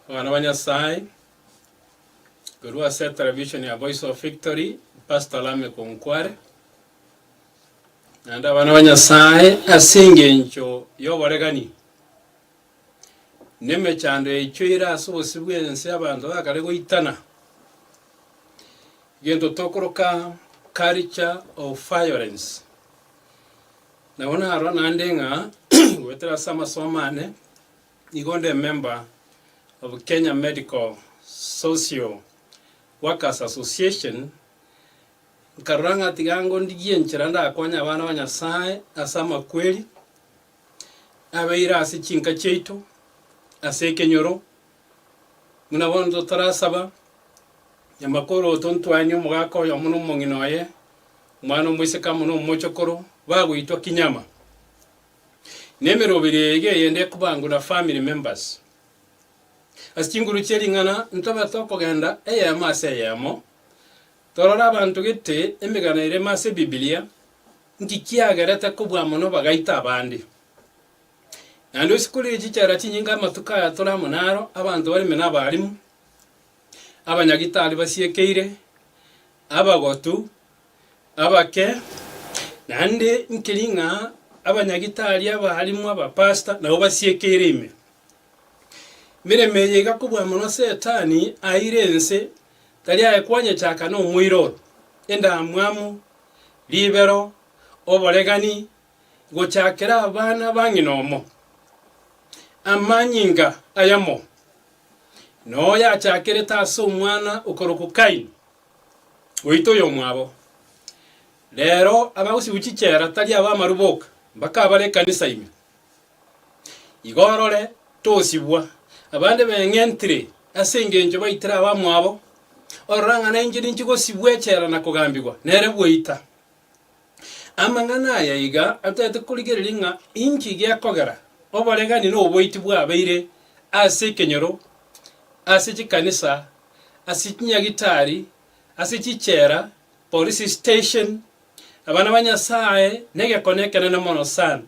Abana ba Nyasaye, korwa ase television ya Voice of Victory, Pastor Lameck Onkware. Naende abana ba Nyasaye ase engencho y'oboregani Nemechando yaichoire ase obosio bw'ense abanto bakare goitana, egento tokoroka culture of violence. Nabo narora naende ng'a goetera ase amasomo ane nigo onde emember of Kenya Medical Social Workers Association, nkarora ng'a tiga ngondigie enchera ndakonye abana ba Nyasaye ase amakweri. nabeire ase chinka chiaito ase ekenyoro, buna bono totarasaba, nyamakoro oito ntwaenie omogaka oyomo na omong'ina oye, omwana omoiseke amo na omochokoro, bagoitwa Kinyama. Na emeroberi eyio eyende ekobangwa na family members. Ase chinguru chie ring'ana ntobete okogenda eyemo ase eyemo, Torore abanto gete emegano eremo ase Ebibilia, nki kiagerete kobua mono bagaita abande. Naende onsi kore chichera chinyinge amatuko aya tore amo naro, abanto bareme nabaalimu, abanyagitari basiekeire, abagotu, abake, naende nkeri ng'a abanyagitari, abaalimu, abapastor nabo basiekeire ime. Emeremo eye iga kobua mono Setani aeire ense Tari aye kwanyechaka nomoiroro, endamwamu, ribero, oboregani, gochakera abana ba ng'ina omo, amanyinga ayamo, na oyachakerete ase omwana okorokwa Kaini, goita oyomwabo. Rero abagosibwa chichera tari abamaru boka, mbaka abare ekanisa ime. Igo orore, tosibwa, abande beng'entire ase engencho baitire abamwabo, orora ng'a nainche ninchi gosibwa echela na kogambigwa nere bweita. Amang'ana aya iga atagete korigereria ng'a inki gekogera oboregani na oboiti bwabeire ase ekenyoro, ase chikanisa, ase chinyagitari, ase chichela, police station, abana ba Nyasae, na egekone ekenene mono sana.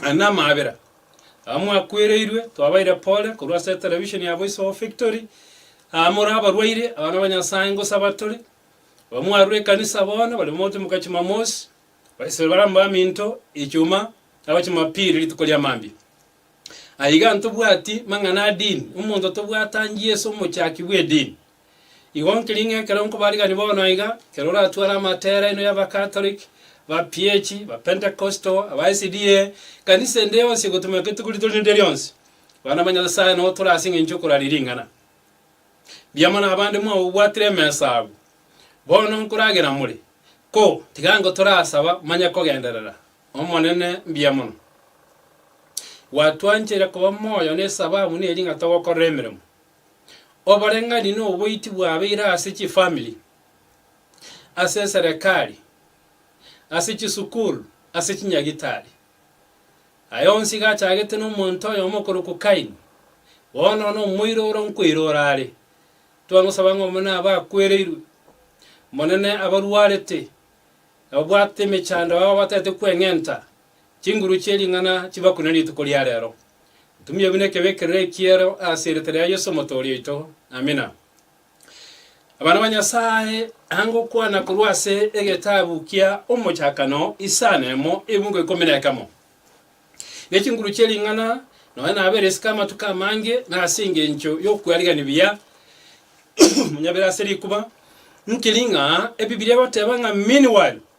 Aya namabera aba mwakwereirwe twabaire pore korwa ase etelevisheni ya Voice of Victory. Aba more abarwaire, abana ba Nyasae ngosa abatore, aba mwarure ekanisa bono bare mogotemuka chimamosi, baisebe bare amo baminto, echuma, aba chimapiri rituko ria mambia. Aye iga ntobwati mang'ana a dini, omonto tobwate angie Yeso omochaki bw'edini. Igo nkiri ng'a ekero nkobarigani bono aiga, ekero oratware amatere aino y'Abakatoliki, Abapiechi, Abapentecostal, aba SDA, ekanisa ende yonsi egotumeka rituko rito rinde rionsi, abana ba Nyasae nao tore ase engencho y'okoraria ring'ana. Mbiamano abande mwabobwatire emesa abwo. Bono nkoragera more, ko, tiga ango torasaba, manye kogenderera. Omonene, mbiamono. Gwatwancheire koba moyo nesababu neri ng'a togokorera emeremo. oboreng'ani na oboiti bwabeire ase chifamiri, ase eserekari, ase chisukuru, ase chinyagitari. Aya onsi iga achagete nomonto oyomo okorokwa Kaini, bono nomoiro ore nkoirora are. Twangosaba ng'a omonene abe akwereirwe, Omonene abarwarete, ababwate emechando, abao abatagete kweng'enta, Chinguru chie ring'ana chibakune rituko ria rero. Ntumie buna ekebe ekerere ekiero ase erieta ria Yeso Omotoori oito. Amina. Abana ba Nyasae, anga okwana korwa ase egetabu kia Omochakano isano emo ebungo ikomi na ekemo. Ne chinguru chie ring'ana nonya nabeire isiko amatuko amange, na ase engencho y'okwarigan'ia buya monyabere ase rikuba, nkiring'a Ebibilia egoteba ng'a meanwhile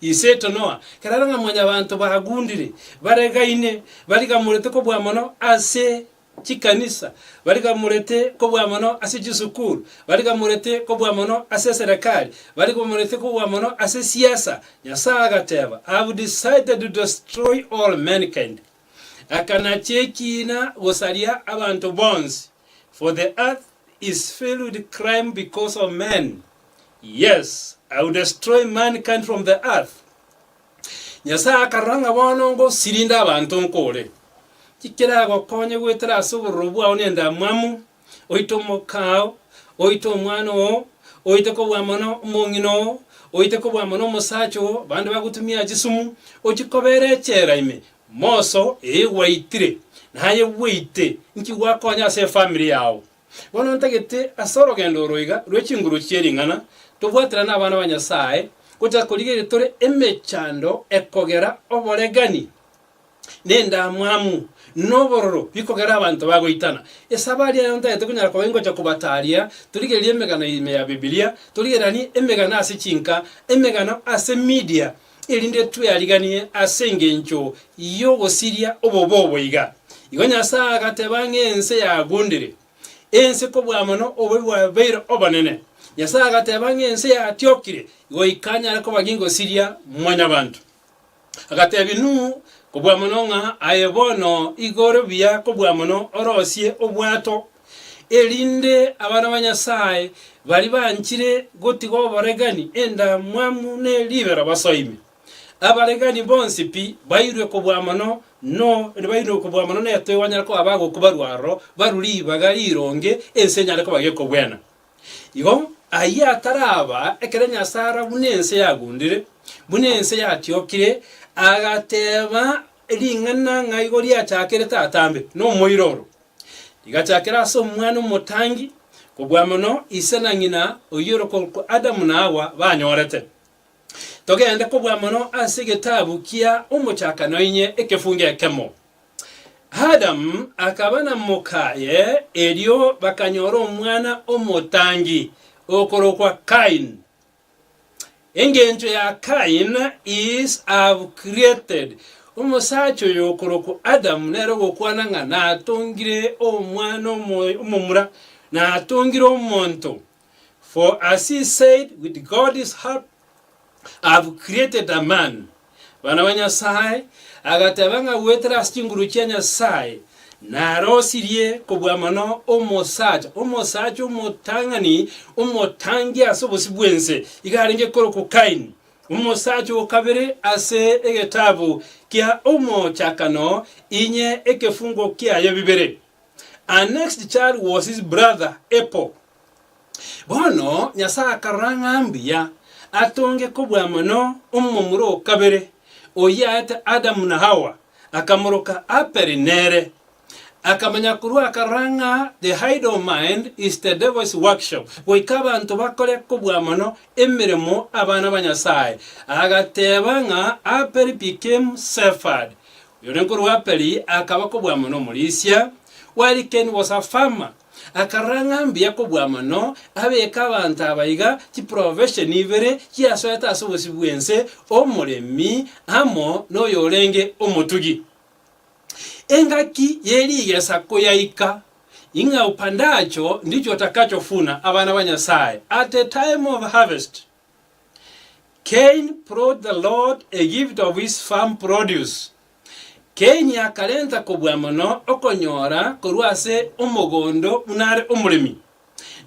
Iseto Noa, kerore ng'a mwanyabanto bagundire, baregaine, barigamorete kobua mono ase chikanisa, barigamorete kobua mono ase chisukuru, barigamorete kobua mono ase eserekari, barigamorete kobua mono ase siasa. Nyasae agateba, I have decided to destroy all mankind. Akanachia ekiina gosaria abanto bonsi, for the earth is filled with crime because of men. Yes, I will destroy mankind from the earth. Nyasae akarora ng'a bono ngosirinde abanto nkore, ki keragokonye goetera ase obororo bwao na endamwamu, oite omokao, oite omwana oo, oite kobua mono omong'ina oo, oite kobua mono omosacha oo, bande bagotumia chisumu, ochie kobeera echela ime, moso eye gwaitire, naye bweite, nki gwakonya ase efamiri yao? Bono ntagete ase orogendo oro iga rwe chinguru chie ring'ana tobwaterane abana ba Nyasae, gocha korigereria tore emechando ekogera oboregani, na endamwamu, na obororo bikogera abanto bagoitana. Ase abaria aya ntagete konyara koba ingocha kobataria torigererie emegano ime ya Bibilia, torigereranie emegano ase chinka, emegano ase media, erinde tweariganie ase engencho y'ogosiria obobe obo iga. Igo Nyasae agateba ng'a ense yagundire, ense kobua mono obobe bwabeire obonene. Nyasae agateba ng'a ense yatiokire, goika anyare koba ng'egosiria Mwanyabanto. Agatebia Nuhu kobua mono ng'a aye bono igoro buya kobua mono orosie obwato erinde abana ba Nyasae baria banchire gotiga oboregani endamwamu ne ribero basoime. Abaregani bonsi pi bairwe kobua mono no bairwe kobua mono netoigo banyare koba abagokwa barue aro barue ribaga rironge ense enyare koba gekogwena. Igo ayio ataraba, ekero Nyasae ara buna ense yagundire, buna ense yatiokire, agateba ring'ana ng'a igo riachakerete atambe nomoiroro. Rigachakera ase omwana omotangi, kobua mono ise na ng'ina oyio orokorokwa Adamu na Hawa banyorete. Togende kobua mono ase egetabu kia Omochakano inye ekefungo ekemo. Adamu akaba na mokaye, erio bakanyora omwana omotangi, okorokwa Kain, Engencho ya Cain is have created omosacha oyo okorokwa Adam nere ogokwana ng'a natongire omwana omoyo omomura, natongire omonto. For as he said with God's help, I have created a man. Bana ba Nyasae, agateba ng'a goetera ase chinguru chia Nyasae narosirie kobua mono omosacha, omosacha omotang'ani, omotangi ase obosio bw'ense, iga arenge korokwa Kaini, omosacha o kabere ase egetabu kia Omochakano inye ekefungo kiaye bibere. Annexed child was his brother Abel. Bono Nyasae akarora ng'a mbuya atonge kobua mono omomura o kabere, oyio aete Adamu na Hawa, akamoroka Aperi nere. Akamanya korwa akarora ng'a the hide of mind is the devil's workshop, goika abanto bakore kobua mono emeremo abana ba Nyasae, agateba ng'a Aperi became sepherd, oyore nkorwa Aperi akaba kobua mono omorisia, while Cain was a farmer. Akarora ng'a mbuya kobua mono abeke abanto aba iga chiprofesheni ibere chiasoete ase obosibwa bw'ense, omoremi amo noyorenge omotugi. Engaki ye rigesa koyaika, Ing'a upandacho ndicho utakachovuna, abana ba Nyasae, at the time of harvest Cain prod the Lord a gift of his farm produce, Kaini akarenta kobua mono okonyora korwa ase omogondo buna are omoremi,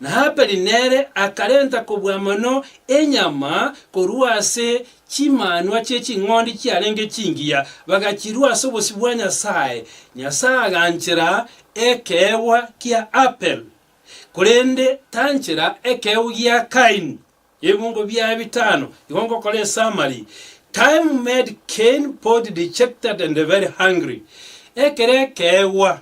na Habeli nere akarenta kobua mono enyama korwa ase chimanwa chie ching'ondi chiarenge chingiya, bagachirua ase obosio bwa Nyasae. Nyasae aganchera ekeegwa kia Habeli, korende tanchera ekeegwa gia Kaini. Ebiongo biaye bitano igo ngokora esummary, Time made Cain both dejected and very hungry, Ekero ekeegwa,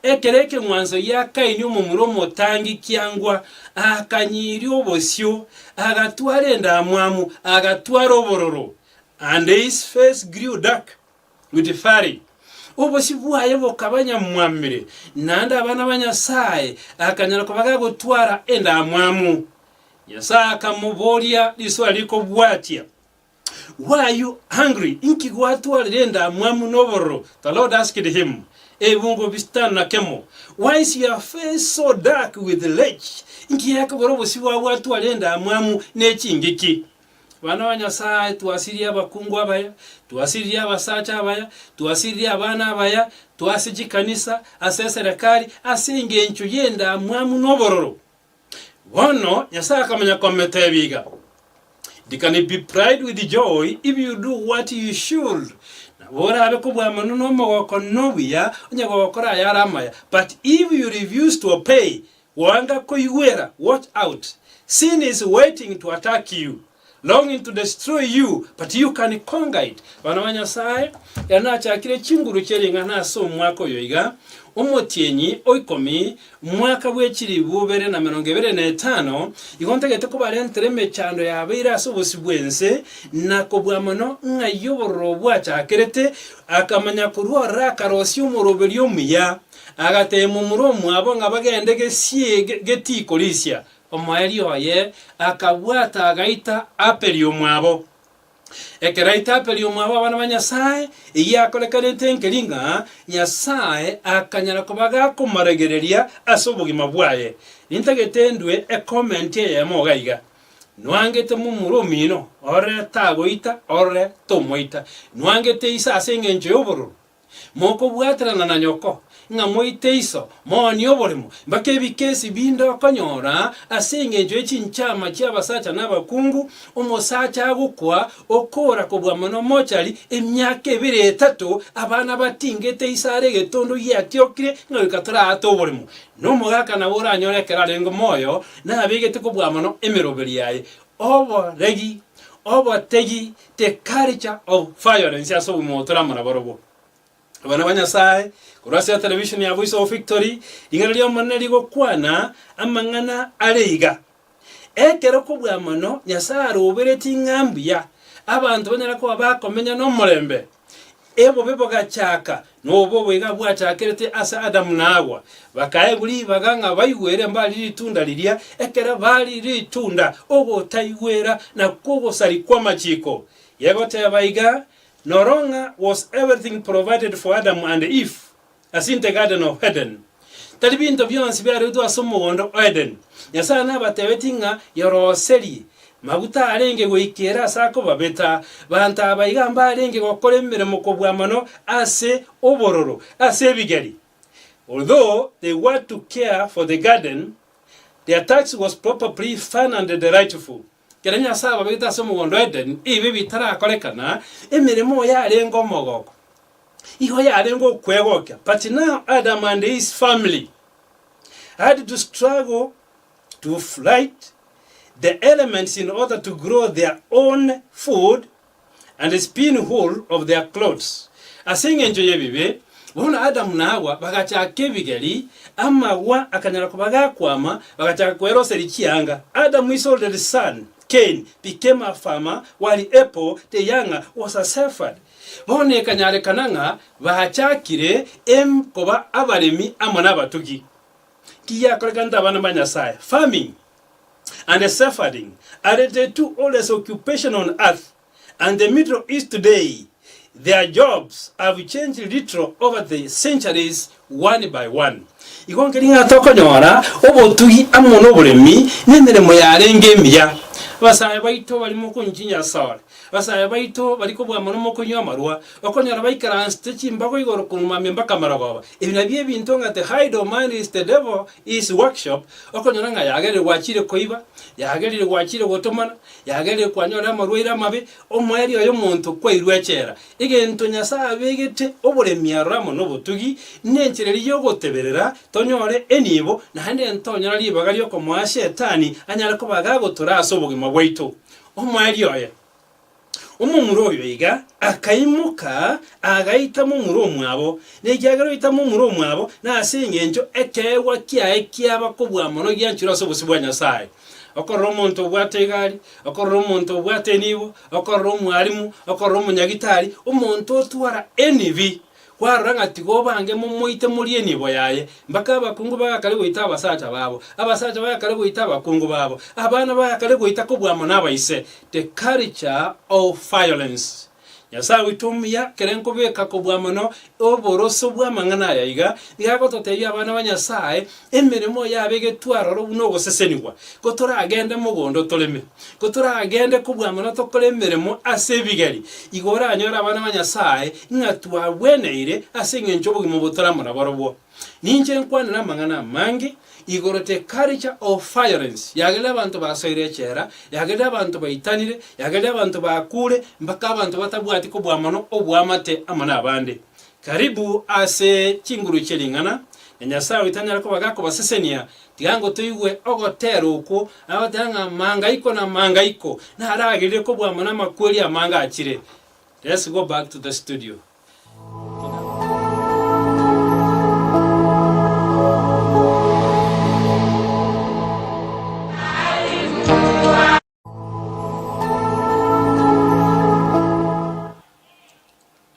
ekero ekeng'wanso gia Kaini omomura omotangi kiangwa, akanyiria obosio, agatwara endamwamu, agatwara obororo, and his face grew dark. Putifaari, obosio bwaye bokaba nyamwamire, naende abana ba Nyasae akanyara koba gagotwara endamwamu. Nyasae akamoboria risoa rikobwatia, Why are you angry? Inki gwatwarire endamwamu nobororo? The Lord asked him, Ebungo bisitano na kemo, Why is your face so dark with rage? Inki gekobora obosio bwao bwatwarire endamwamu ne chingiki? Abana ba Nyasae, twasiririe abakungu abaya, twasiririe abasacha abaya, twasiririe abana abaya, twase chikanisa, ase eserekari, ase engencho y'endamwamu n'obororo. Bono Nyasae akamanya kometebia iga, It can be pride with joy if you do what you should. Nabo orabe kobwamano n'omogoko nobuya, onye gokora ayare amaya. But if you refuse to obey, Goanga koigwera, watch out, Sin is waiting to attack you, longing to destroy you, but you can conquer it. Bana ba Nyasae, ere nachakire chinguru chie ring'ana ase omwaka oyo iga, omotienyi o ikomi, mwaka bwe chilifu ibere na merongo ebere na etano, igo ntagete kobarentera emechando yabeire ase obosio bw'ense, na kobua mono ng'ai obororo bwachakerete, akamanya korwa ororo akarosia omoroberio omuya. Agateema omura omwabo ng'a bagende gesiege getiiko risia. Omoeeri oye akabwata agaita Apeli omwabo. Ekero aita Apeli omwabo abana ba Nyasae, eyio akorekanete enkeri ng'a Nyasae akanyara koba gakomoregereria ase obogima bwaye. Nintagete ndue ecomment eyemo iga iga, Nwangete momura omino, ore tagoita, ore tomoita. Nwangete ise ase engencho y'obororo, mokobwaterana na nyoko, ng'a moite iso moni oborimo, mpaka ebikesi binde okonyora ase engencho ye chinchama chi'abasacha na abakungu, omosacha agokwa okoora kobua mono mochari, emiaka ebere etato abana batingete iso are egetondo giatiokire ng'a goika toraate oborimo. Nomogaka nabo oranyore ekero arenge moyo, nabegete kobua mono emeroberi yaye, Oboregi, obotegi the culture of violence ase obogima obo toramora barobwo. Abana ba Nyasae, korwa ase television ya Voice of Victory, ring'ana ri'Omonene rigokwana amang'ana are iga, Ekero kobua mono Nyasae aroberetie ng'a mbuya, abanto banyare koba bakomenya nomorembe. Ebobe bogachaaka, na obobe iga bwachaakerete ase Adamu na Hawa. Bakaegwa ribaga ng'a baigwere mbari ritunda riria, ekero bari ritunda, ogotaigwera, na kogosari kw'amachiko. Gegoteeba iga, Norong'a was everything provided for Adam and Eve? Ase intee Garden of Eden, tari binto bionsi biaroetwe ase omogondo o Eden. Nyasae nabatebetie ng'a yoroserie maguta arenge goika ere ase akobabeta. Banto aba iga mbarenge gokora emeremo kobua mono ase obororo ase ebigeri. Although they were to care for the garden, their task was probably fun and delightful. Ekero Nyasae ababegete ase omogondo o Edeni, ebibe bitarakorekana, emeremo oye arenge omogoko, igo yarenge okwegokia, but now Adam and his family had to struggle to flight the elements in order to grow their own food and spin wool of their clothes, ase engencho y'ebibe, bono Adamu na Hawa bagachaka ebigeri, amagwa akanyara koba gakwama, bagachaka koera ase richianga. Adamu his oldest son, Cain, became a farmer, while Abel, the younger, was a shepherd. Bono ekanyarekana ng'a bachakire em koba abaremi amo nabatugi. Ki giakorekanete abana ba Nyasae? Farming, and the suffering are the two oldest occupation on earth and the middle east today their jobs have changed little over the centuries one by one igo nkeri ng'a tokonyora obotugi amo noboremi nemeremo yarenge emiya abasae baito bari mokonchi nyasore abasae baito bari kobua mono mokonywa amarwa okonyora baikaransete chimbago igoro korwa mamia mpaka marogoba ebi nabio ebinto ng'a the hide of man is the devil His workshop, okonyora ng'a yagerire gwachire koiba, yagerire gwachire gotomana, yagerire kwanyorire amarwaire amabe, omoerio y'omonto kwairwe echela. Egento Nyasae abegete oboremi aroro amo nobotugi, nenchera eria y'ogoteberera tonyore enibo, naende ntonyora ribaga ri'okomoa Shetani anyare koba gagotura ase obogima bwaito. Omoerio oye. Omomura oyo iga akaimoka, agaita momura omwabo, na ekiagera oita momura omwabo, na ase engencho ekeegwa kiaye kiaba kobua mono gianchirwe ase obosio bwa Nyasae. Okorora omonto obwate egari, okorora omonto obwate enibo, okorora omwalimu, okorora omonyagitari, omonto otwara enibi. Kwarora ng'a tigo bange momoite morie enibo yaye, mpaka abakungu bagakare goita abasacha babo, abasacha bagakare goita abakungu babo, abana bagakare goita kobua amo nabaise, the culture of violence. Nyasae oito omuya kere nkobeka kobua mono oborosio bw'amang'ana aya iga, nigo agototebia abana ba Nyasae Emeremo yabegetwe aroro buna ogosesenigwa, ko toragende mogondo toreme, ko toragende kobwang'ana tokore emeremo ase ebigeri, igo oranyore abana ba Nyasae ng'a twagweneire ase engencho y'obogima obo toramo naborobwo. Ninche nkwanera amang'ana amange igoro the culture of violence yagerire abanto basoire echela, yagerire abanto baitanire, yagerire abanto bakure, mpaka abanto batabwati kobua mono oboamate amo nabande. Karibu ase chinguru chie ring'ana, na Nyasae oito anyare koba gakobasesenia, tiga ngo toigwe ogoteera okwo, agoteba ng'a mangaiko na mangaiko naragirire kobua amo namakweri amange achire. Let's go back to the studio.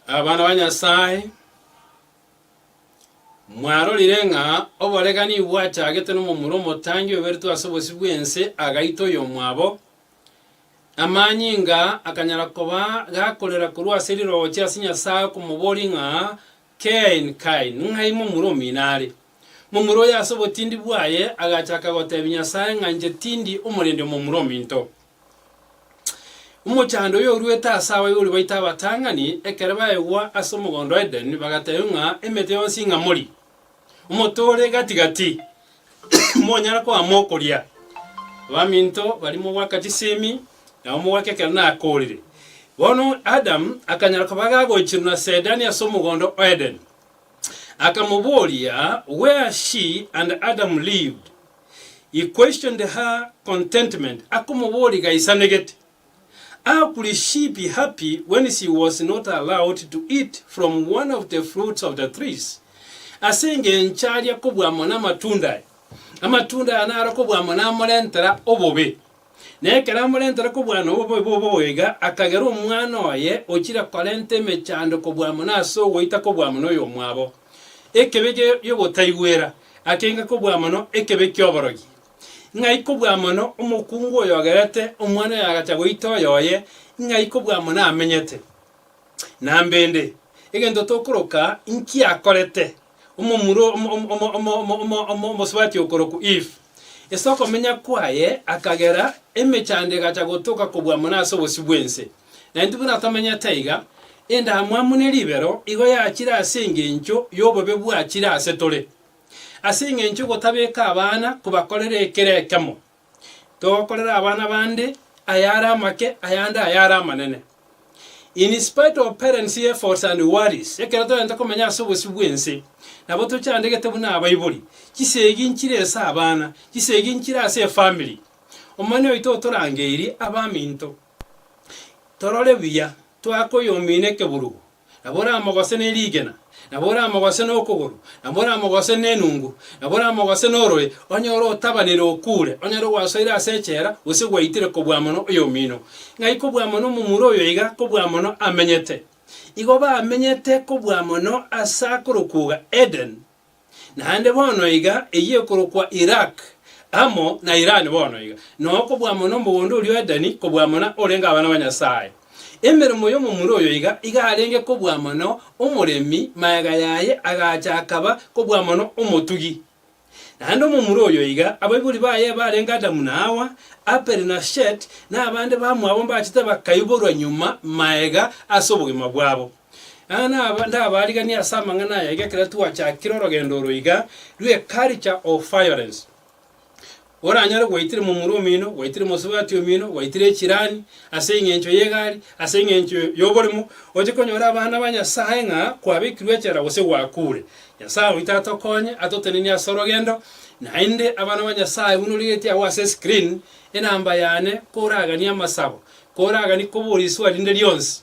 Abana ba Nyasae, mwarorire ng'a oboregani bwachagete nomomura omotangi oyoberetwe ase obosio bw'ense agaita oyomwabo, amanyinga akanyara koba gakorera korwa ase rirogo chia ase Nyasae okomoboria ng'a Kain, Kain, ng'ai momura omino are? Momura oyo ase obotindi bwaye agachaka goteebia Nyasae ng'a inche tindi omorende omomura ominto. Omochando oyo oruete ase abaibori baito abatang'ani, ekero baegwa ase omogondo o Edeni, bagateebia ng'a emete yonsi ing'amori, Omonto ore gati gati monyara koama okoria. Abaminto baria mogwaka chisemi, na omogwaka ekero nakoorire. Bono Adamu akanyara koba gagoichirwa na Saedani ase omogondo o Edeni. Akamobooria, Where she and Adam lived. He questioned her contentment, akomobooria gaisanegete. How could she be happy when she was not allowed to eat from one of the fruits of the trees? Ase engencho aria kobua amo namatunda aya, amatunda aya naro kobua amo namorentera obobe. Na ekero amorentera kobua amo obobe bobo iga, akagera omwana oye ochire korenta emechando kobua amo nase ogoita kobua amo noyomwabo. Ekebe gi'ogotaigwera, akenga kobua mono ekebe ki'oborogi. Ng'ai kobua mono omokungu oyogerete omwana oyo agacha goita oyoye, ng'ai kobua mono amenyete! Na mbende, egento tokoroka inki akorete omomura omosubati okorokwa Eve? Ase okomenya kwaye akagera emechando egacha gotoka kobua mono ase obosio bw'ense. Na intwe buna tomenyete iga, endamwamu ne ribero igo yachire ase engencho y'obobe bwachire ase tore. Ase engencho y'ogotabeka abana kobakorera ekero ekemo, togokorera abana bande ayare amake, ayande ayare amanene. In spite of parents' efforts and worries, ekero togenta komenya ase obosio bw'ense, nabo tochandegete buna abaibori, chisegi nchire ase abana, chisegi nchire ase efamily. Omonene oito otorangeirie abaminto torore buya, toake oyomino ekeburugo, nabo oramogose ne rigena, nabo oramogose nokogoro, nabo oramogose nenungu, nabo oramogose norore, onye ore otabanire okuure, onyare gwasoire ase echela, gose gwaitire kobua mono oyomino. Ng'ai kobua mono omomura oyo iga kobua mono amenyete? Igo bamenyete kobua mono ase akorokwoga Eden, Naende bono iga, eyio ekorokwa Iraq, amo na Iran bono iga, na okobua mono omogondo oria o Edeni, kobua mono orenge abana ba Nyasae. Emeremo y'omomura oyo iga, iga arenge kobua mono omoremi, magega yaye agacha akaba kobua mono omotugi. Naende omomura oyo iga, abaibori baye barenge Adamu na Hawa, Abeli na Shet, na abande bamwabo mbachete bakaiborwa nyuma magega ase obogima bwabo. Aa naba ndabaariganie ase amang'ana aya iga ekero twachakire orogendo oro iga, rwe culture of violence. Oranyore gwaitire momura omino, gwaitire mosubati omino, gwaitire echirani, ase eng'encho y'egari, ase eng'encho y'oborimo, oche konyora abana ba Nyasae ng'a kwabekirwe echela gose gwakuure. Nyasae oito atokonye, atotenenie ase orogendo, naende abana ba Nyasae buna origetie agwo ase escreen, enamba yane, koraganie amasabo, koragani koboria eswali rinde rionsi.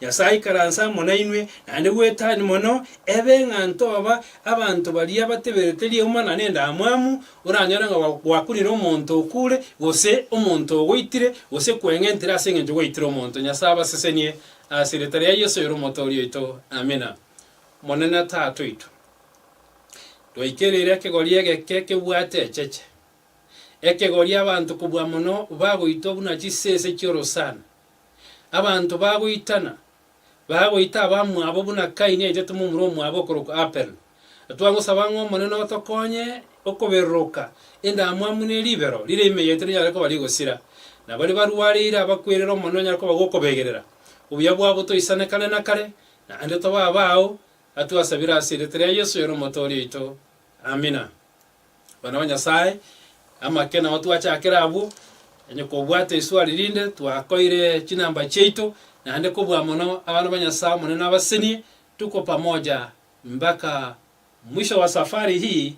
Nyasae aikaranse amo nainwe, naende gwetani mono ebe ng'a ntoba abanto baria bateberete riauma na nendamwamu, oranyore ng'a gwakunire omonto okure, gose omonto ogoitire, gose kweng'entire ase engencho gwaitire omonto. Nyasae abasesenie ase erieta ria Yeso oyore Omotooria oito. Amina. Omonene Tata oito, twaikereire ekegori egeke kebwate echeche, ekegori abanto kobua mono bagoitwa buna chisese chi'orosana. Abanto bagoitana, bagoita abamwabo buna Kaini aitete momura omwabo okorokwa Abel. Twagosaba ng'a Omonene otokonye okobereroka endamwamu ne ribero riria ime yaito rinyare koba rigosira, na baria barwareire abakwerere Omonene onyare koba gokobegerera. Obuya bwabo toisane kare na kare, naende tobe abao, atwasabire ase erieta ria Yeso, oyo n'Omotoori oito. Amina. Abana ba Nyasaye, amake nao twachakera abwo, onye kobwata eswali rinde twakoire chinamba chiaito, naende kobua mono abana ba Nyasaye Omonene abasenie, tuko pamoja mbaka mwisho wa safari hii,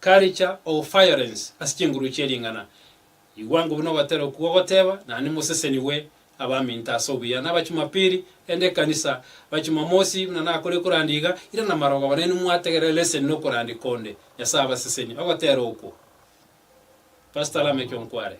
culture of firence ase chinguru chie ring'ana. Igwa ng'o buna ogotera okwo gogoteba, Naende mosesenigwe abaminto ase obuya, na Abachumapiri, rende ekanisa, Abachumamosi, buna nakorire korandia iga, irana amarogo aba, na inwe mwategerera leseni na okorandia konde. Nyasae abasesenie. Ogotera okwo. Pastor Lameck Onkware.